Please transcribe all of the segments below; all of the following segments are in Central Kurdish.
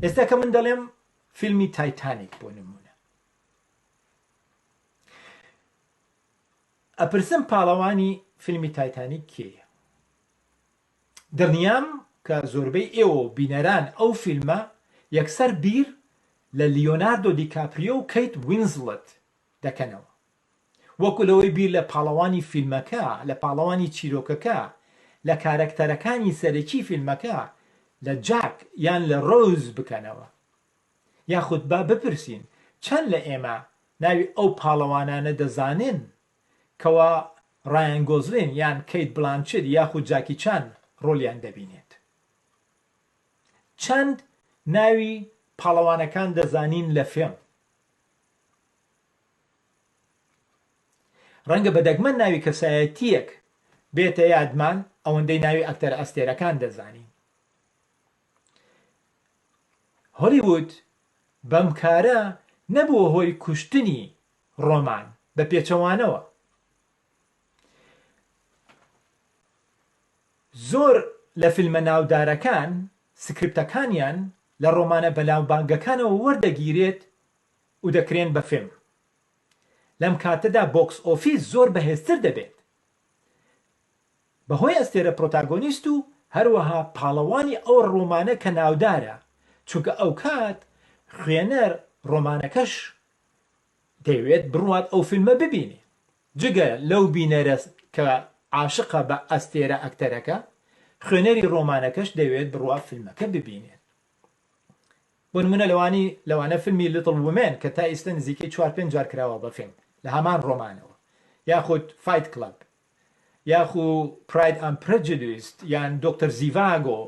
ئێستا کە من دەڵێم فیلمی تایتانیک بۆ نمونە ئەپرسم پاڵەوانی فیلمی تایتانیک کێە دڵنیام کە زۆربەی ئێوە و بینەران ئەو فیلمە یەکسەر بیر لە لیۆناردۆ دیکاپریۆ و کەیت وینسڵت دەکەنەوە وەکو لەوەی بیر لە پاڵەوانی فیلمەکە، لە پاڵەوانی چیرۆکەکە، لە کارەکتەرەکانی سەرەکی فیلمەکە، لە جاک یان لە ڕۆوز بکەنەوە. یاخود با بپرسین چەند لە ئێمە ناوی ئەو پاڵەوانانە دەزانن کەوا ڕایان گۆزلین یان کەیت بلانچید یاخود جاکی چان ڕۆلیان دەبینێت چەند ناوی پاڵەوانەکان دەزانین لە فێڵم ڕەنگە بە دەگمەن ناوی کەسایەتیەک بێتە یادمان ئەوەندەی ناوی ئەکتەر ئەستێرەکان دەزانین هۆلیوود بەم کارە نەبووە هۆی کوشتنی ڕۆمان، بە پێچەوانەوە، زۆر لە فیلمە ناودارەکان سکریپتەکانیان لە ڕۆمانە بەناوبانگەکانەوە وەردەگیرێت و دەکرێن بە فیلم. لەم کاتەدا بۆکس ئۆفیس زۆر بەهێزتر دەبێت بەهۆی ئەستێرە پرۆتاگۆنیست و هەروەها پاڵەوانی ئەو ڕۆمانە کە ناودارە، چونکە ئەوکات خوێنەر ڕۆمانەکەش دەیەوێت بڕوات ئەو فیلمە ببینێ جگە لەو بینەرە کە عاشقە بە ئەستێرە ئەکتەرەکە خوێنەری ڕۆمانەکەش دەوێت بڕوا فیلمەکە ببینێت بۆ نمونە لەوانی لەوانە فیلمی لیتڵ ومێن کە تا ئیستە نزیکەی چوار پێنج جار کراوە بە فیلم لە هەمان ڕۆمانەوە یاخود فایت کلەب یاخو پراید ئەم پرجدویست یان دکتۆر زیڤاگۆ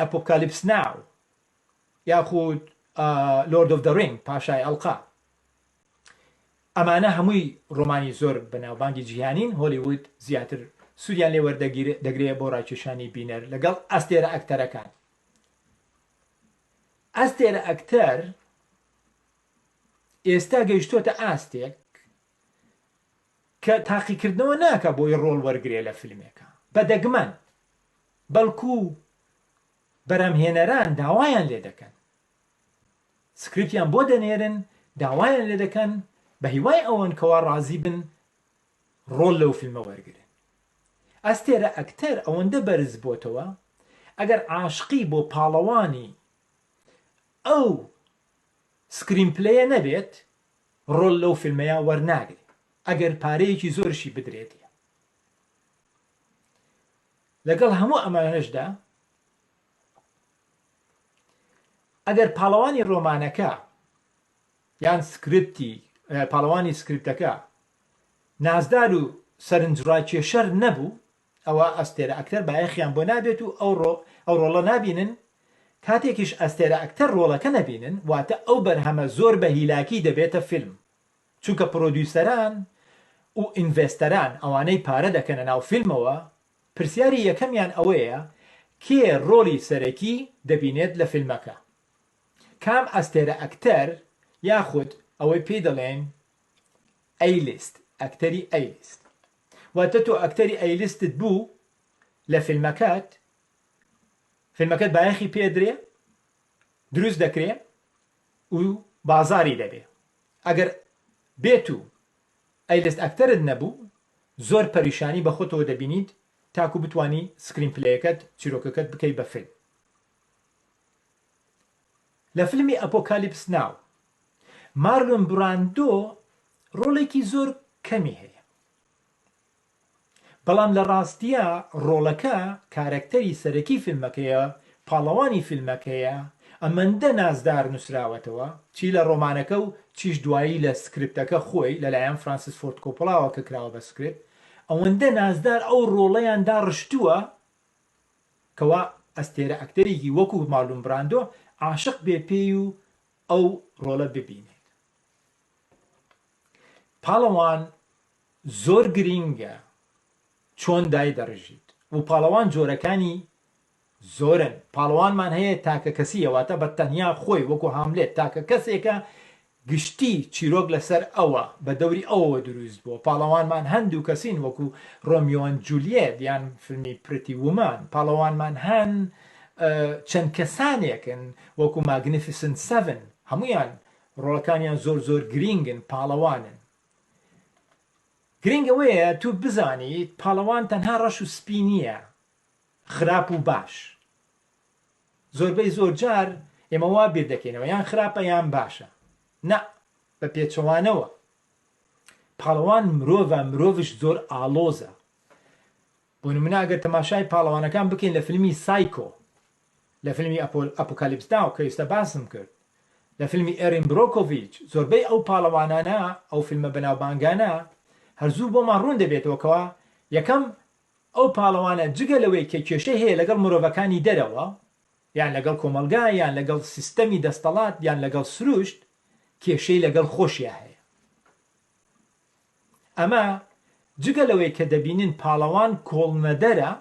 ئەپۆکالیپس ناو یاخود لۆرد ئۆف دە رینگ پاشای ئەڵقە ئەمانە هەمووی ڕۆمانی زۆر بەناوبانگی جیهانین هۆلیوود زیاتر سوودیان لێ وەردەگرێت بۆ ڕاکێشانی بینەر لەگەڵ ئەستێرە ئەکتەرەکان ئەستێرە ئەکتەر ئێستا گەیشتۆتە ئاستێک کە تاقیکردنەوە ناکە بۆی ڕۆڵ وەرگێ لە فیلمێکە بە دەگمەن بەڵکو بەرهەمهێنەران داوایان لێدەکەن سکریپتیان بۆ دەنێرن داوایان لێدەکەن بە هیوای ئەوەن کەوا ڕازی بن ڕۆڵ لەو فیلمە وەرگن ئەستێرە ئەکتەر ئەوەندە بەرز بۆتەوە ئەگەر عاشقی بۆ پاڵەوانی ئەو سکرین پلەیە نەبێت ڕۆل لەو فیلمەیە وەرناگرێت ئەگەر پارەیەکی زۆرشی بدرێت لەگەڵ هەموو ئەمانەشدا ئەگەر پاڵەوانی ڕۆمانەکە یان سکرپتی پاڵەوانی سکرپتەکە نازدار و سەرنجڕاکێشەر نەبوو ئەوە ئەستێرە ئەکتەر بایەخیان بۆ نابێت و ئەو ڕۆ ئەو ڕۆڵە نابینن کاتێکیش ئەستێرە ئەکتەر ڕۆڵەکە نەبینن واتە ئەو بەرهەمە زۆر بە هیلاکی دەبێتە فیلم چونکە پرۆدیوسەران و ئینڤێستەران ئەوانەی پارە دەکەنە ناو فیلمەوە پرسیاری یەکەمیان ئەوەیە کێ ڕۆڵی سەرەکی دەبینێت لە فیلمەکە کام ئەستێرە ئەکتەر یاخود ئەوەی پێی دەڵێن ئەیلیست ئەکتەری ئەیلیست واتە تۆ ئەکتەری ئەیلیستت بوو لە فیلمەکەت فیلمەکەت بایەخی پێدرێ دروست دەکرێ و بازاری دەبێ ئەگەر بێت و ئەیلست ئەکتەرت نەبوو زۆر پەریشانی بە خۆتەوە دەبینیت تاکو بتوانی سکرین پلەیەکەت چیرۆکەکەت بکەی بە فیلم لە فیلمی ئەپۆکالیپس ناو مارلۆن براندۆ ڕۆڵێکی زۆر کەمی هەیە بەڵام لە ڕاستیا ڕۆڵەکە کارەکتەری سەرەکی فیلمەکەیە، پاڵەوانی فیلمەکەیە، ئەمەندە نازدار نووسراوەتەوە، چی لە ڕۆمانەکە و چیش دوایی لە سکرپتەکە خۆی، لەلایەن فرانسیس فۆرد کۆپۆلاوە کە کراوە بە سکرپت، ئەوەندە نازدار ئەو ڕۆڵەیان داڕشتووە کەوا ئەستێرە ئەکتەرێکی وەکوو مارلون براندۆ عاشق بێ پێی و ئەو ڕۆڵە ببینێت. پاڵەوان زۆر گرینگە چۆن دایدەڕژیت و پاڵەوان جۆرەکانی زۆرن پاڵەوانمان هەیە تاکە کەسیە واتە بە تەنیا خۆی وەکو هاملێت تاکە کەسێکە گشتی چیرۆک لەسەر ئەوە بە دەوری ئەوەوە دروست بووە پاڵەوانمان هەن دوو کەسین وەکو ڕۆمیۆن جولیێت یان فیلمی پرتی ومان پاڵەوانمان هەن چەند کەسانێکن وەکو ماگنیفیسن سەڤن هەمویان ڕۆڵەکانیان زۆر زۆر گرینگن پاڵەوانن گرنگ ئەوەیە تو بزانیت پاڵەوان تەنها ڕەش و سپی نیە خراپ و باش زۆربەی زۆر جار ئێمە وا بیر دەکەینەوە یان خراپە یان باشە نا بە پێچەوانەوە پاڵەوان مرۆڤە مرۆڤش زۆر ئاڵۆزە بۆ نمونە ئەگەر تەماشای پاڵەوانەکان بکەین لە فلمی سایکۆ، لە فلمی ئەپۆکالیپس ناو کە ئیستا باسم کرد، لە فلمی ئێرین برۆکۆڤیچ، زۆربەی ئەو پاڵەوانانە، ئەو فلمە بەناوبانگانە، هەر زوو بۆمان ڕوون دەبێتەوە کەوا یەکەم ئەو پاڵەوانە جگە لەوەی کە کێشەی هەیە لەگەڵ مرۆڤەکانی دەرەوە، یان لەگەڵ کۆمەڵگا، یان لەگەڵ سیستەمی دەستەڵات، یان لەگەڵ سروشت، کێشەی لەگەڵ خۆشیا هەیە. ئەمە جگە لەوەی کە دەبینن پاڵەوان کۆڵنەدەرە،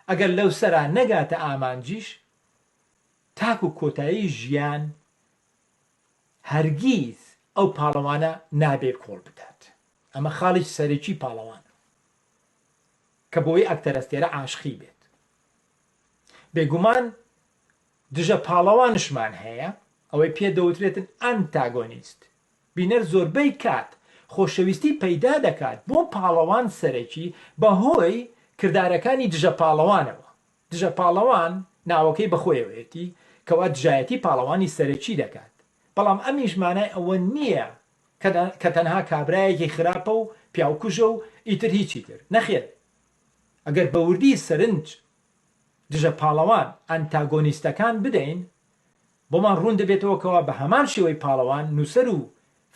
ئەگەر لەوسەرا نەگاتە ئامانجیش تاکو کۆتایی ژیان هەرگیز ئەو پاڵەوانە نابێ کۆڵ بدات، ئەمە خاڵی سەرەکی پاڵەوانە کە بۆی ئەکتەرەستێرە عاشقی بێت، بێگومان دژە پاڵەوانشمان هەیە ئەوەی پێ دەوترێتن ئەنتاگۆنیست، بینەر زۆربەی کات خۆشەویستی پەیدا دەکات بۆ پاڵەوان سەرەکی بەهۆی کردارەکانی دژە پاڵەوانەوە، دژە پاڵەوان ناوەکەی بەخۆیەوەیەتی کەوا دژایەتی پاڵەوانی سەرەکی دەکات، بەڵام ئەمیش مانای ئەوە نییە کە تەنها کابرایەکی خراپە و پیاوکوژە و ئیتر هیچی تر، نەخێر ئەگەر بەوردی سەرنج دژە پاڵەوان ئەنتاگۆنیستەکان بدەین بۆمان ڕوون دەبێتەوە کەوا بە هەمان شێوەی پاڵەوان، نووسەر و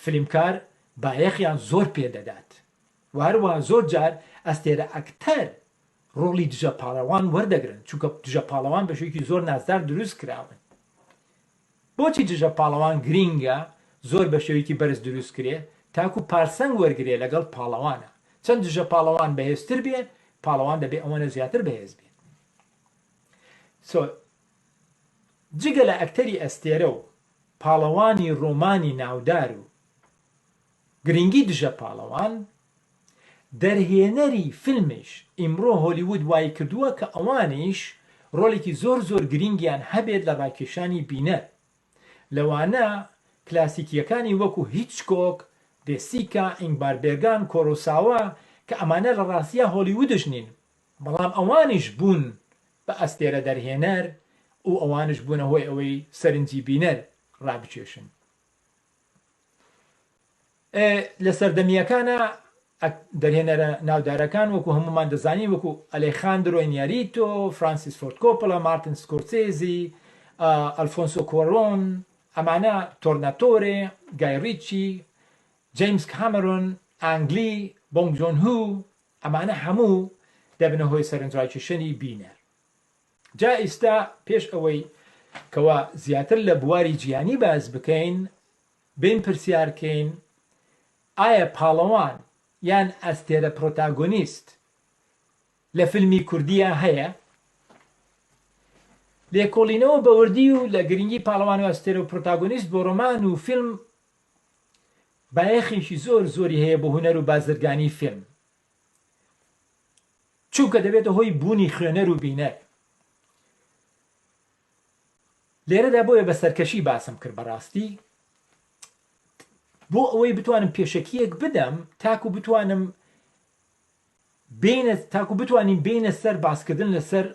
فلیمکار بایەخیان زۆر پێ دەدات و هەروەها زۆر جار ئەستێرە ئەکتەر ڕۆڵی دژە پاڵەوان وەردەگرن، چونکە دژە پاڵەوان بە شێوەیەکی زۆر نازدار دروست کراون. بۆچی دژە پاڵەوان گرینگە زۆر بە شێوەیەکی بەرز دروست کرێ تاکوو پارسەنگ وەرگرێ لەگەڵ پاڵەوانە، چەند دژە پاڵەوان بەهێزتر بێ، پاڵەوان دەبێ ئەوەنە زیاتر بەهێز بێ. جگە لە ئەکتەری ئەستێرە و پاڵەوانی ڕۆمانی ناودار و گرینگی دژە پاڵەوان، دەرهێنەری فیلمیش، ئیمڕۆ هۆلیوود وایکردووە کە ئەوانیش ڕۆلێکی زۆر زۆر گرینگیان هەبێت لە ڕاکێشانی بینەر، لەوانە کلاسیکییەکانی وەکو هیچکۆک، دێسیکا، ئینگمار بێرگان، کۆرۆساوا، کە ئەمانە لە ڕاستیا هۆلیوودش نین، بەڵام ئەوانیش بوون بە ئەستێرە دەرهێنەر و ئەوانیش بوونە هۆی ئەوەی سەرنجی بینەر ڕابکێشن. لە سەردەمییەکانا دەرهێنەرە ناودارەکان وەکو هەمومان دەزانین وەکو ئەلێخاندرۆی نیاریتۆ، فرانسیس فۆرد کۆپڵە، مارتن سکۆرسێزی، ئەلفۆنسۆ کۆرۆن، ئەمانە تۆرناتۆرێ، گای ڕیچی، جەیمس کامرۆن، ئانگ لی، بۆنگ جۆن هو، ئەمانە هەموو دەبنە هۆی سەرنجڕاکیشەنی بینەر. جا ئیستا پێش ئەوەی کەوا زیاتر لە بواری جیانی باس بکەین بێین پرسیار کەین ئایا پاڵەوان یان ئەستێرە پرۆتاگۆنیست لە فیلمی کوردیا هەیە؟ لێکۆڵینەوە بە وردی و لە گرنگی پاڵەوان و ئەستێرە و پرۆتاگۆنیست بۆ ڕۆمان و فیلم بایەخێکی زۆر زۆری هەیە بۆ هونەر و بازرگانی فیلم چونکە دەبێتە هۆی بوونی خوێنەر و بینەر لێرەدا بۆیە بە سەرکەشی باسم کرد بەڕاستی بۆ ئەوەی بتوانم پێشەکیەک بدەم تاکو بتوانم بینە تاکو بتوانین بینە سەر باسکردن لەسەر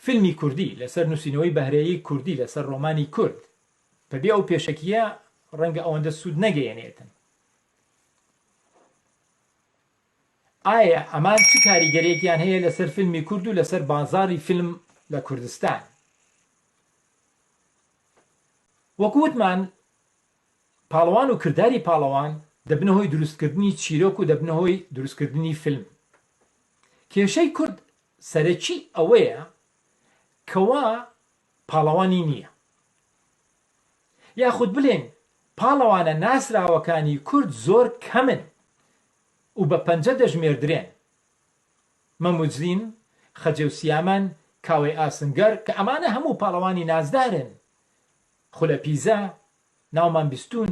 فیلمی کوردی لەسەر نووسینەوەی بەهرەیە کوردی لەسەر ڕۆمانی کورد بەبێ ئەو پێشەکیە ڕەنگە ئەوەندە سوود نەگەیەنێتن ئایا ئەمان چ کاریگەرێکیان هەیە لەسەر فیلمی کورد و لەسەر بازاری فیلم لە کوردستان وەکووتمان پاڵەوان و کردداری پاڵەوان دەبنە هۆی دروستکردنی چیرۆک و دەبنە هۆی دروستکردنی فیلم کێشەی کورد سەرەکی ئەوەیە کەوا پاڵەوانی نییە. یاخود بلێن پاڵەوانە ناسراوەکانی کورد زۆر کەمن و بە پەنجە دەژمێردرێن، مەموجلین، خەجێوسیامان، کاوەی ئاسنگەر، کە ئەمانە هەموو پاڵەوانی نازدارن، خولەپیزە، ناومان بیستوون،